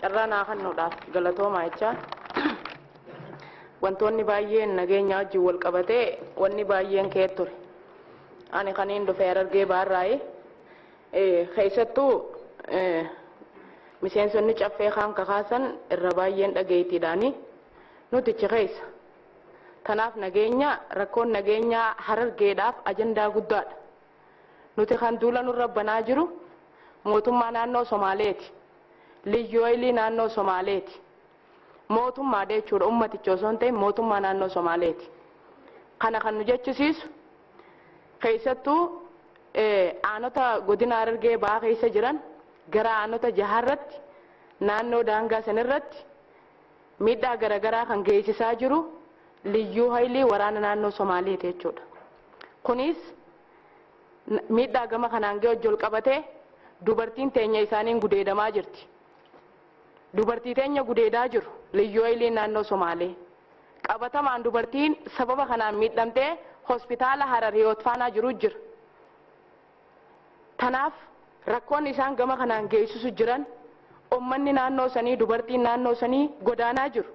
Carraa naa kannuudhaaf galatoomaa jechaa wantoonni baay'een nageenya wajjin wal qabatee wanni baay'een ka'ee ture. Ani kaniin dhufe Harargee Bahaarraayi. Keessattuu miseensonni caffee kaan kakaasan irra baay'een dhageettiidhaani nuti achi keessa. Tanaaf nageenya rakkoon nageenyaa Harargeedhaaf ajandaa guddaadha. Nuti kan duula nurra banaa jiru mootummaa naannoo Somaaleeti. Liyyuhaylii naannoo Somaaleeti. Mootummaadha jechuudha ummaticha osoo hin ta'in mootummaa naannoo Somaaleeti. Kana kan nu jechisiisu keessattuu aanota godina Harargee bahaa keessa jiran gara aanota jaharratti naannoo daangaa sanirratti Miidhaa garagaraa kan geessisaa jiru Liyyuu Hayilii waraana naannoo Somaaleeti jechuudha. Kuniis miidhaa gama kanaan gahe wajji walqabatee dubartiin teenya isaaniin gudeedamaa jirti. Dubartii teenya gudeedaa jiru Liyyuu Hayiliin naannoo Somaalee. Qabatamaan dubartiin sababa kanaan miidhamtee hospitaala Harar Hiwoot Faanaa jiru jira. Tanaaf rakkoon isaan gama kanaan geessisu jiran ummanni naannoo sanii dubartiin naannoo sanii godaanaa jiru.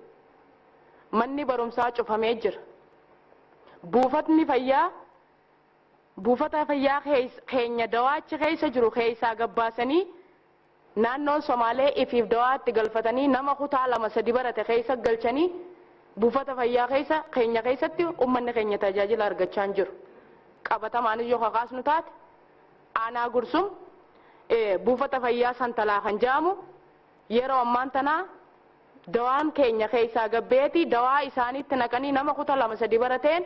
Manni barumsaa cufamee jira. Buufatni fayyaa buufata fayyaa keenya dawaa achi keessa jiru keessaa gabbaasanii Naannoon Somaalee ifiif dawaa itti galfatanii nama kutaa lama sadi barate keessa galchanii buufata fayyaa keessa keenya keessatti ummanni keenya tajaajila argachaa hin jiru. Qabatamaanis yoo ka kaasnu taate aanaa Gursum buufata fayyaa Santalaa kan jedhamu yeroo ammaan tanaa dawaan keenya keessaa gad baheeti dawaa isaaniitti naqanii nama kuta lama sadi barateen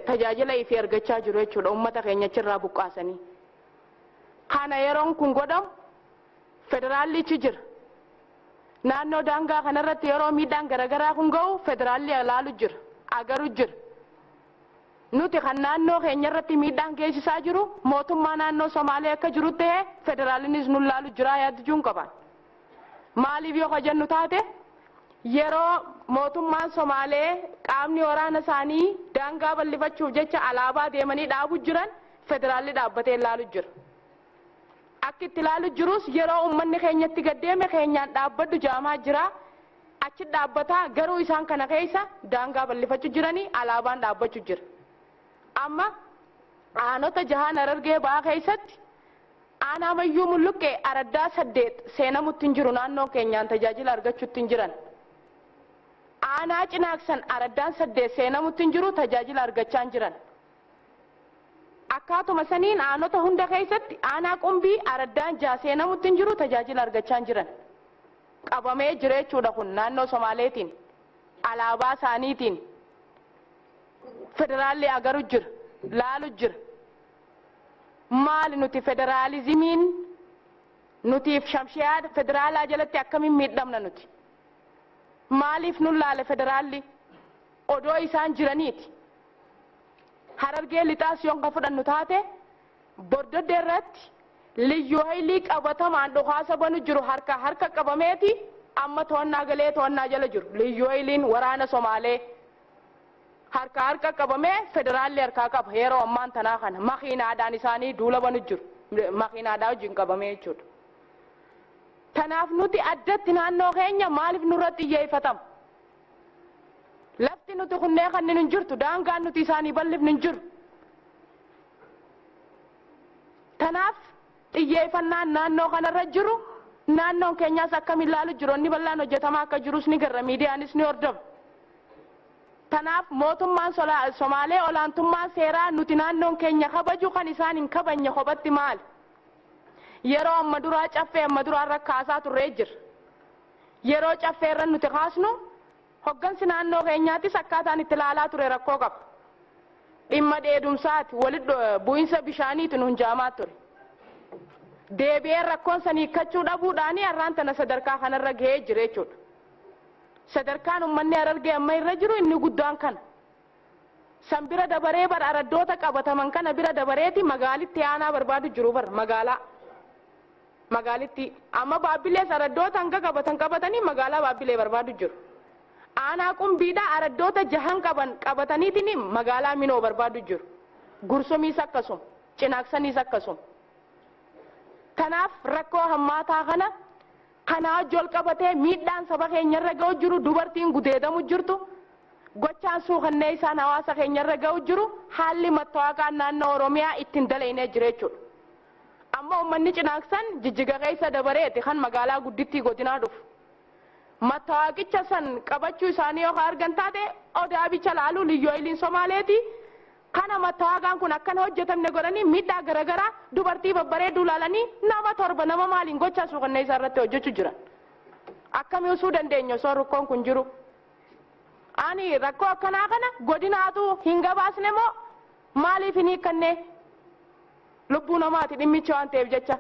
tajaajila ifii argachaa jiru jechuudha ummata keenya achirraa buqqaasanii. Kana yeroon kun godhamu federaalli ichi jira. Naannoo daangaa kana irratti yeroo miidhaan garagaraa kun ga'u federaalli alaalu jira, agaru jira. Nuti kan naannoo keenya irratti miidhaan geessisaa jiru mootummaa naannoo Somaalee akka jirutti ta'ee federaallinis nu laalu jiraa yaaddijuun qaba. Maaliif yoo ka jennu taate yeroo mootummaan Somaalee qaamni waraana isaanii daangaa ballifachuuf jecha alaabaa deemanii dhaabu jiran Federaalli dhaabbatee ilaalu jira. Akki itti ilaalu jirus yeroo ummanni keenya itti gad deeme keenyaan dhaabbadhu jaamaa jira. Achi dhaabbataa garuu isaan kana keessa daangaa ballifachu jirani alaabaan dhaabbachu jira. Amma aanota jahaan Harargee bahaa keessatti aanaa Mayyuu Mulluqqee araddaa saddeet seenamutti hin jiru naannoon keenyaan tajaajila argachutti hin jiran. Aanaa Cinaaksan araddaan saddeet seenamutti hin jiru tajaajila argachaa hin jiran. Akkaatuma saniin aanota hunda keessatti aanaa Qumbii araddaan 6 seenamutti hin jiru tajaajila argachaa hin jiran. Qabamee jireechuudha kun naannoo Somaaleetiin alaabaa isaaniitiin federaalli agaru jira laalu jira. Maali nuti federaalizimiin nutiif shamshayaa federaalaa jalatti akkamiin miidhamna nuti? Maaliif nun laale federaalli? Odoo isaan jiraniiti Harargee Lixaas yoon kan fudhannu taate Bordoddee irratti Liyyuu Hayilii qabatamaan dhukaasa banu jiru harkaa harka qabameeti amma to'annaa galee to'annaa jala jiru. Liyyuu Hayiliin waraana Somaalee harkaa harka qabamee federaalli harkaa qaba yeroo ammaan tanaa kana makiinaadhaan isaanii duula banu jiru makiinaadhaa wajjin qabamee jechuudha. Tanaaf nuti addatti naannoo keenya maaliif nurratti xiyyeeffatama? Lafti nuti kunnee kanninu hin jirtu. Daangaan nuti isaanii bal'ifnu hin jiru. Kanaaf xiyyeeffannaan naannoo kanarra jiru naannoon keenyaas akkam ilaalu jiru inni bal'aan hojjetamaa akka jirus ni garra miidiyaanis ni hordofa. Kanaaf mootummaan Somaalee olaantummaa seeraa nuti naannoon keenya kabaju kan isaan hin kabanye kophatti maali? Yeroo amma duraa caffee amma duraa irra kaasaa turree jira. Yeroo Caffee irra nuti kaasnu hoggansi naannoo keenyaatis akkaataan itti ilaalaa ture rakkoo qaba. Dhimma dheedumsaati, walitti bu'insa bishaaniiti nuun ja'amaa ture. Deebi'ee rakkoon san hiikkachuu dhabuudhaani har'aan tana sadarkaa kanarra gahee jira jechuudha. Sadarkaan ummanni Harargee amma irra jiru inni guddaan kana. San bira dabaree bar araddoota qabataman kana bira dabareeti magaalitti aanaa barbaadu jiru bar magaalaa. Magaalittii. Amma Baabbilees araddoota hanga qabatan qabatanii magaalaa Baabbilee barbaadu jiru. Aanaa Qumbiidhaa araddoota jahan qaban qabataniitiin magaalaa Minoo barbaadu jiru. Gursumiis akkasuma. Cinaaksaniis akkasuma. Kanaaf rakkoo hammaataa kana kanaa wajji wal qabatee miidhaan saba keenya irra ga'u jiru, dubartiin gudeedamu jirtu, gochaan suukanneessaan hawaasa keenya irra ga'u jiru haalli mattawaaqaan naannoo Oromiyaa itti hin dalaynee jira jechuudha. Amma ummanni Cinaaksan Jijjiga keessa dabareeti kan magaalaa guddittii godinaa dhufu. Mattawaaqicha san qabachuu isaanii yoo ka argan taate Odaa bicha laalu Liyyu Hayliin Somaaleeti kana mattawaaqaan kun akka hin hojjatamne godhanii miidhaa garagaraa dubartii babbareedduu laalanii nama torba nama maaliin gochaa suukanneessaa irratti hojjachu jiran. Akkami usuu dandeenya osoo rukkoon kun jiru? Ani rakkoo akkanaa kana godinaatu hin gabaasne moo maaliif hin hiikkannee? lubbuu namaati dhimmichi waan ta'eef jecha.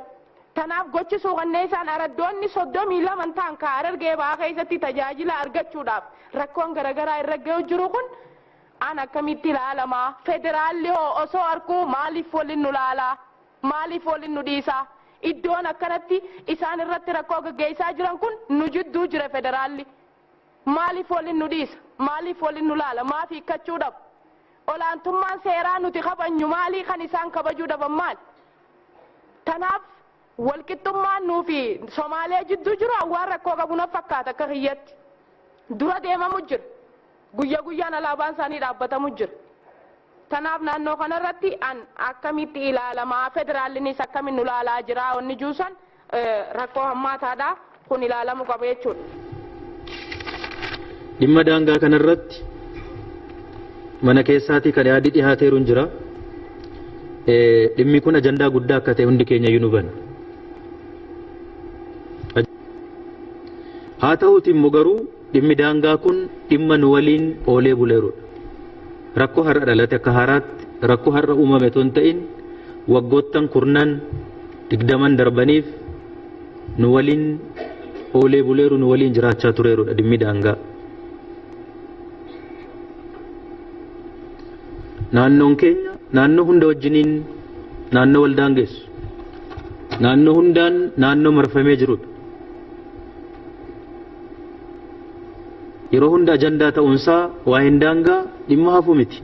Tanaaf gochi suukanneessaan araddoonni 32n ta'an ka Harargee Bahaa keessatti tajaajila argachuudhaaf rakkoon garagaraa irra gayu jiru kun an akkamitti laalama? Federaalli hoo osoo arkuu maaliif wolin nu laala? Maaliif wolin nu dhiisa? Iddoon akkanatti isaan irratti rakkoo gaggeessaa jiran kun nu jidduu jira federaalli. Maaliif waliin nu dhiisa? Maaliif waliin nu laala? Maaf hiikkachuu dhaba? Olaantummaan seeraa nuti kabajnu maalii? Kan isaan kabajuu dhaban maali? Tanaaf walqixxummaan nuu fi Somaalee jidduu jiru an waan rakkoo qabu naf fakkaata akka kiyyatti. Dura deemamu jira. Guyya guyyaan alaabaan isaanii dhaabbatamu jira. Tanaaf naannoo kanarratti an akkamitti ilaalamaa? Federaallinis akkamiin nu laalaa jiraa? Wanni juu san rakkoo hammaataadha. Kun ilaalamu qaba jechuudha. Dhimma daangaa kanarratti mana keessaatii kan yaadi dhihaateeru hin jira. Dhimmi kun ajandaa guddaa akka ta'e hundi keenya iyyuu nu hubanna. Haa ta'uuti immoo garuu Dhimmi daangaa kun dhimma nu waliin oolee buleerudha. Rakkoo har'a dhalate akka haaraatti rakkoo har'a uumame otoo hin ta'in waggoottan kurnan digdaman darbaniif nu waliin oolee buleeru nu waliin jiraachaa tureerudha dhimmi daangaa. Naannoon keenya naannoo hunda wajjiniin naannoo wal daangeessu. Naannoo hundaan naannoo marfamee jirudha. Yeroo hunda ajandaa ta'uunsaa waa'een daangaa dhimma hafu miti.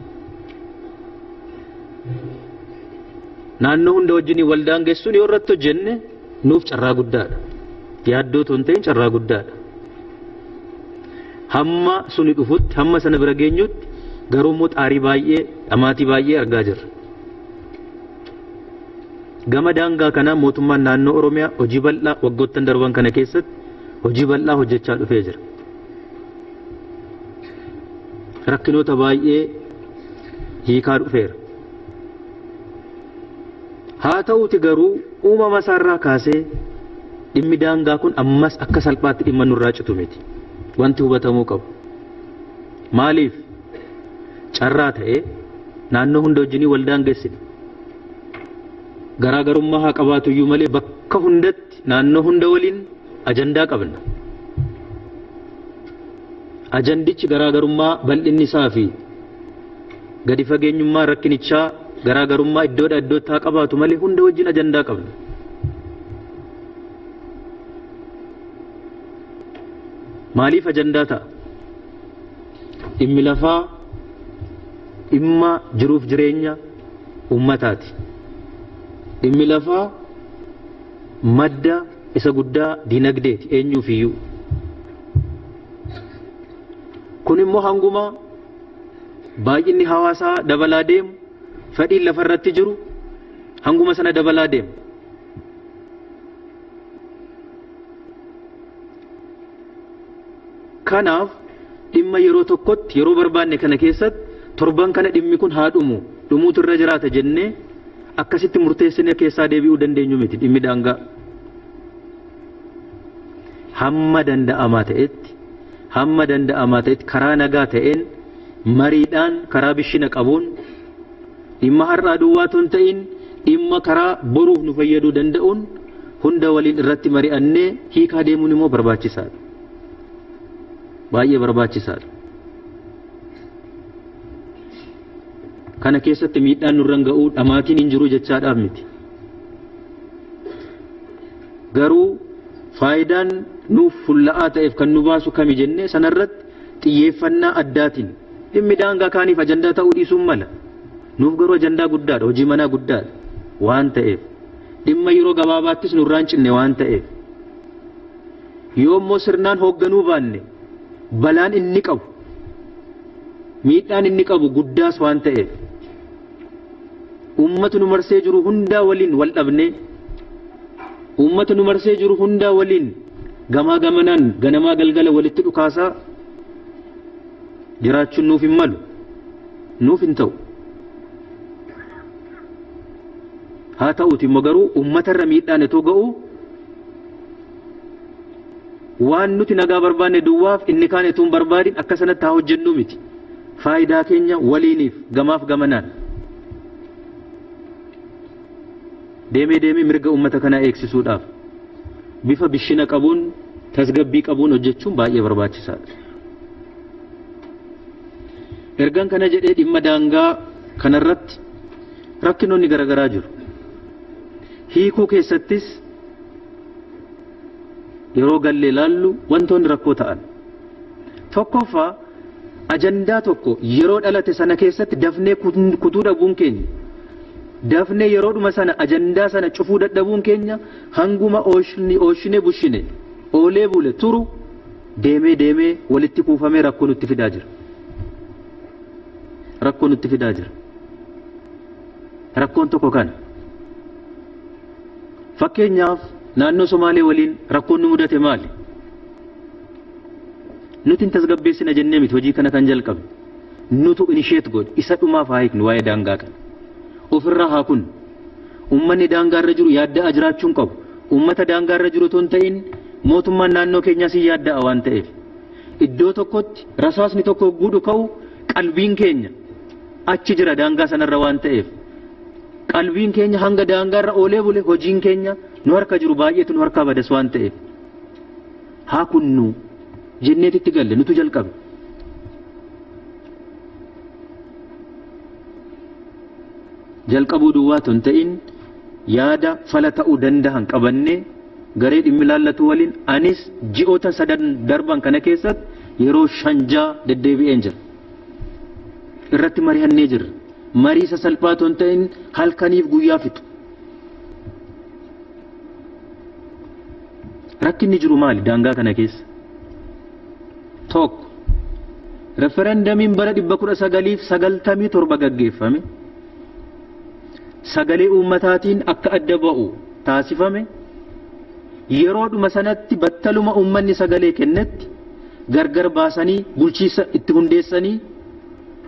Naannoo hunda wajjin wal daangessuun yoo irratti hojjenne nuuf carraa guddaadha. Yaaddoo tun ta'in carraa guddaadha. Hamma suni dhufutti hamma sana bira geenyutti garuu immoo xaarii baay'ee dhamaatii baay'ee argaa jirra. Gama daangaa kanaa mootummaan naannoo Oromiyaa hojii bal'aa waggoottan darban kana keessatti hojii bal'aa hojjechaa dhufee jira. Rakkinoota baay'ee hiikaa dhufeera. Haa ta'uuti garuu uumama isaarraa kaasee dhimmi daangaa kun ammas akka salphaatti dhimma nurraa citu miti. Wanti hubatamuu qabu. Maaliif? Carraa ta'ee naannoo hunda wajjinii wal daangessine. Garaagarummaa haa qabaatu iyyuu malee bakka hundatti naannoo hunda waliin ajandaa qabna. Ajandichi garaagarummaa bal'inni isaa fi gadi fageenyummaa rakkinichaa garaagarummaa iddoodhaa iddootti haa qabaatu malee hunda wajjin ajandaa qabna. Maaliif ajandaa ta'a? Dhimmi lafaa dhimma jiruuf jireenya uummataati. Dhimmi lafaa madda isa guddaa dinagdeeti eenyuufiyyuu. Kun immoo hanguma baay'inni hawaasaa dabalaa deemu fedhiin lafa irratti jiru hanguma sana dabalaa deema. Kanaaf dhimma yeroo tokkotti yeroo barbaanne kana keessatti torban kana dhimmi kun haa dhumu dhumuutu irra jiraata jennee akkasitti murteessinee keessaa deebi'uu dandeenyu miti dhimmi daangaa. Hamma danda'amaa ta'etti hamma danda'amaa ta'etti karaa nagaa ta'een mariidhaan karaa bishina qabuun Dhimma har'aa duwwaa otoo hin ta'in dhimma karaa boruuf nu fayyaduu danda'uun hunda waliin irratti mari'annee hiikaa deemuun immoo barbaachisaadha. Baay'ee barbaachisaadha. Kana keessatti miidhaan nurran ga'uu dhamaatiin hin jiru jechaadhaaf miti. Garuu faayidaan nuuf fulla'aa ta'eef kan nu baasu kami jennee sanarratti Xiyyeeffannaa addaatiin dhimmi daangaa kaaniif ajandaa ta'uu dhiisuun mala. Nuuf garuu ajandaa guddaadha, hojii manaa guddaadha waan ta'eef. Dhimma yeroo gabaabaattis nurraa hin cinne waan ta'eef. Yoo immoo sirnaan hoogganuu baanne balaan inni qabu, miidhaan inni qabu guddaas waan ta'eef. uummata nu marsee jiru hundaa waliin wal dhabnee uummata nu marsee jiru hundaa waliin gamaa gamanaan ganamaa galgala walitti dhukaasaa jiraachuun nuuf hin malu nuuf hin ta'u. Haa ta'uuti immoo garuu uummatarra miidhaan itoo ga'u Waan nuti nagaa barbaanne duwwaaf inni kaan etuu hin barbaadin akka sanatti haa hojjennuu miti. Faayidaa keenya waliiniif gamaaf gamanaan deemee deemee mirga uummata kanaa eegsisuudhaaf bifa bishina qabuun tasgabbii qabuun hojjechuun baay'ee barbaachisaadha. Ergan kana jedhee dhimma daangaa kanarratti rakkinoonni garagaraa jiru. Hiikuu keessattis yeroo gallee ilaallu wantoonni rakkoo ta'an tokkoffaa ajandaa tokko yeroo dhalate sana keessatti dafnee kutuu dhabuun keenya dafnee yeroodhuma sana ajandaa sana cufuu dadhabuun keenya hanguma ooshinee bushine oolee bule turu deemee deemee walitti kuufamee rakkoo nutti fidaa jira. Rakkoo nutti fidaa jira. Rakkoon tokko kana. Fakkeenyaaf naannoo Somaalee waliin rakkoon nu mudate maali? Nuti hin tasgabbeessina jennee miti hojii kana kan jalqabne. Nutu inisheet godhe isa dhumaaf haa hiiknu waa'ee daangaa kana. Ofirraa haa kunnu. Uummanni daangaa irra jiru yaadda'aa jiraachuu hin qabu. Uummata daangaa irra jiru otoo hin ta'in mootummaan naannoo keenyaas hin yaadda'a waan ta'eef. Iddoo tokkotti rasaasni tokko hogguu dhuka'u qalbiin keenya achi jira daangaa sanarra waan ta'eef qalbiin keenya hanga daangaarra oolee bule hojiin keenya nu harka jiru baay'eetu nu harkaa badas waan ta'eef haa kunnu jenneet itti galle nutu jalqabe. Jalqabuu duwwaa tun ta'in yaada fala ta'uu danda'an qabannee garee dhimmi laallatu waliin anis ji'oota sadan darban kana keessatti yeroo shanjaa deddeebi'een jira. irratti marihannee jirra. Marii sasalphaa ton ta'in halkaniif guyyaa fixu. Rakkinni jiru maali daangaa kana keessa? Tokko referendamiin bara 1997 gaggeeffame sagalee uummataatiin akka adda ba'u taasifame Yeroodhuma sanatti battaluma uummanni sagalee kennetti gargar baasanii bulchiinsa itti hundeessanii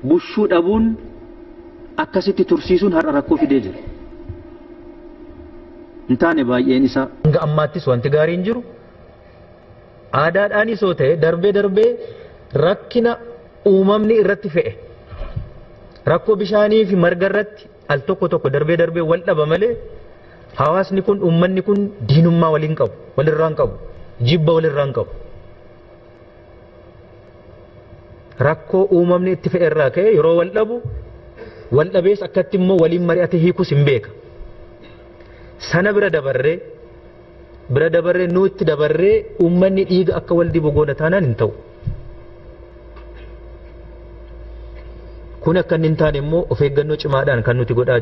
bushuu dhabuun akkasitti tursiisuun har'a rakkoo fidee jira. Hin taane baay'een isaa. Hanga ammaattis wanti gaariin jiru aadaadhaanis yoo ta'e darbee darbee rakkina uumamni irratti fe'e rakkoo bishaaniifi margarratti, Al tokko tokko darbee darbee wal dhaba malee hawaasni kun uummanni kun diinummaa waliin qabu walirraan qabu jibba walirraan qabu. Rakkoo uumamni itti fe'e irraa ka'ee yeroo wal dhabu wal dhabees akkatti immoo waliin mari'atee hiikus hin beeka. Sana bira dabarree bira dabarree nuutti dabarree uummanni dhiiga akka wal dibu goona taanaan hin ta'u. Kun akka inni hin taane immoo of eeggannoo cimaadhaan kan nuti godhaa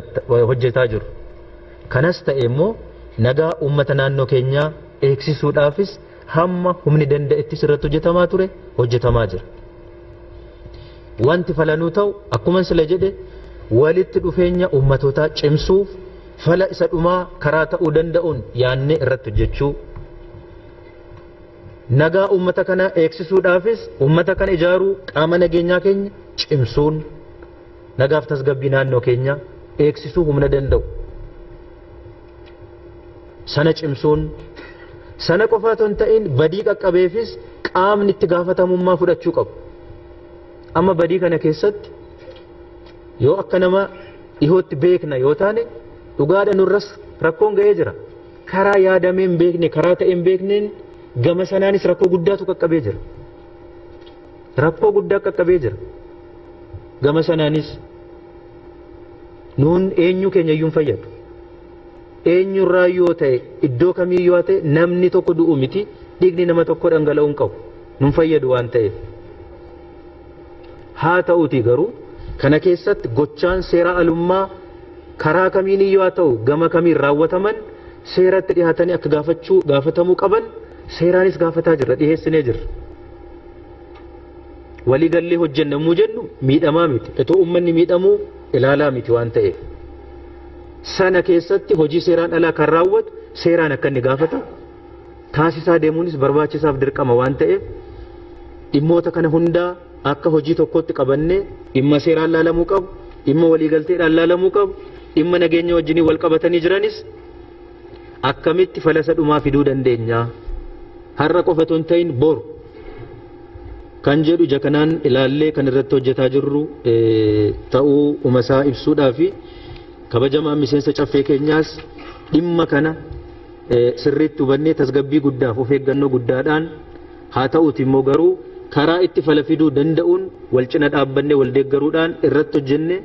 hojjetaa jiru. Kanas ta'e immoo nagaa uummata naannoo keenyaa eegsisuudhaafis hamma humni danda'ettis irratti hojjetamaa ture hojjetamaa jira. Wanti falanuu ta'u akkuman sila jedhe walitti dhufeenya ummatootaa cimsuuf fala isa dhumaa karaa ta'uu danda'uun yaannee irratti hojjechuu, nagaa ummata kanaa eegsisuudhaafis ummata kana ijaaruu qaama nageenyaa keenya cimsuun nagaaf tasgabbii naannoo keenyaa eegsisuu humna danda'u. sana cimsuun sana qofa otoo hin ta'in badii qaqqabeefis qaamni itti gaafatamummaa fudhachuu qabu. Amma badii kana keessatti yoo akka nama dhihootti beekna yoo taane dhugaadha nurras rakkoon ga'ee jira. Karaa yaadamee hin beekne karaa ta'e hin beekneen gama sanaanis rakkoo guddaatu qaqqabee jira. Rakkoo guddaa qaqqabee jira. Gama sanaanis nuun eenyuu keenya iyyuu hin fayyadu. Eenyurraa yoo ta'e iddoo kamii yoo ta'e namni tokko du'u miti dhiigni nama tokko dhangala'uu hin qabu. Nun fayyadu waan ta'eef. Haa ta'uutii garuu kana keessatti gochaan seeraa alummaa karaa kamiin iyyuu haa ta'u gama kamiin raawwataman seeratti dhihaatanii akka gaafachuu gaafatamuu qaban seeraanis gaafataa jirra dhiheessinee jirra. Walii gallee hojjenna muu jennu miidhamaa miti. Itoo ummanni miidhamuu ilaalaa miti waan ta'eef. Sana keessatti hojii seeraan alaa kan raawwatu seeraan akka inni gaafatu taasisaa deemuunis barbaachisaaf dirqama waan ta'eef dhimmoota kana hundaa akka hojii tokkootti qabannee dhimma seeraan laalamuu qabu, dhimma waliigalteedhaan laalamuu qabu, dhimma nageenya wajjiniin wal qabatanii jiranis Akkamitti falasa dhumaa fiduu dandeenya? Har'a qofa otoo hin ta'in boru kan jedhu ija kanaan ilaallee kan irratti hojjetaa jirru ta'uu umasaa ibsuudhaa fi kabajamaan miseensa caffee keenyaas dhimma kana sirriitti hubannee tasgabbii guddaaf of eeggannoo guddaadhaan haa ta'uuti immoo garuu karaa itti fala fiduu danda'uun wal cina dhaabbannee wal deeggaruudhaan irratti hojjenne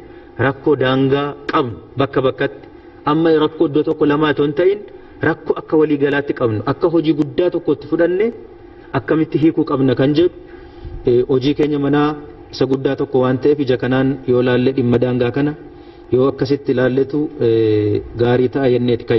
rakkoo daangaa qabnu bakka bakkatti Amma rakkoo iddoo tokko lamaa otoo hin ta'in rakkoo akka walii galaatti qabnu akka hojii guddaa tokkotti fudhanne akkamitti hiikuu qabna kan jedhu hojii keenya manaa isa guddaa tokko waan ta'eef ija kanaan yoo laalle dhimma daangaa kana yoo akkasitti laalletu gaarii ta'a jenneeti kan